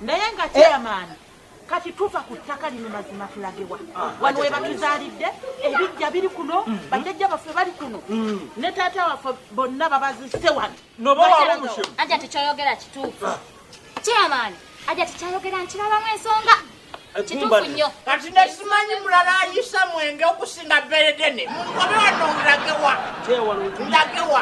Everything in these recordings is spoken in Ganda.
naye nga chairman eh. kati tuva ku ttaka lino mazima tulagewa ah, wano we batuzaalidde ebijja biri kuno mm. bajjajja baffe bali kuno mm. ne taata waffe bonna babazise wano aja tekyoyogera kituufu ah. chairman aja tekyayogera nkirabamu ensonga kati nekimanyi mulala ayisa mwenge okusinga beredene munkobe wano ndagewa ndagewa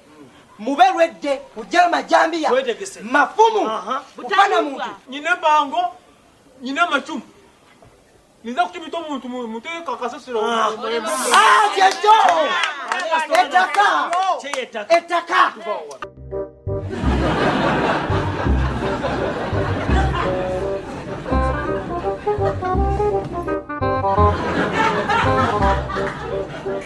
mube lwedde kujja majambiya mafumu kufana muntu nyina bango nyina macumu ninza kukibita omuntu muteeka kasasiro kyekyo ettaka ettaka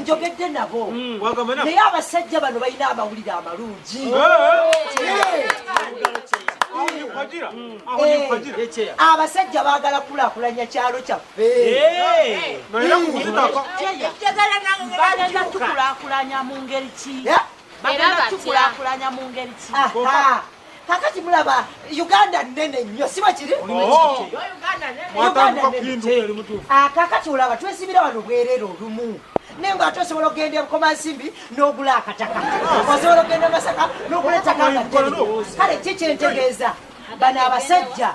njogedde nabo mm. naye abasajja bano balina amawulire amalungi abasajja bagala kulakulanya kyalo kyaffe tukulakulanya mu ngeri ki kakati mulaba uganda nene nnyo siba kiri oh. ah, kakati olaba twesibira wano bwerere olumu naye nga ate osobola okugenda ebukoma nsimbi n'ogula akataka ah. osobola okugenda masaka n'ogula ettaka nga ddene kale ki kyentegeeza bano abasajja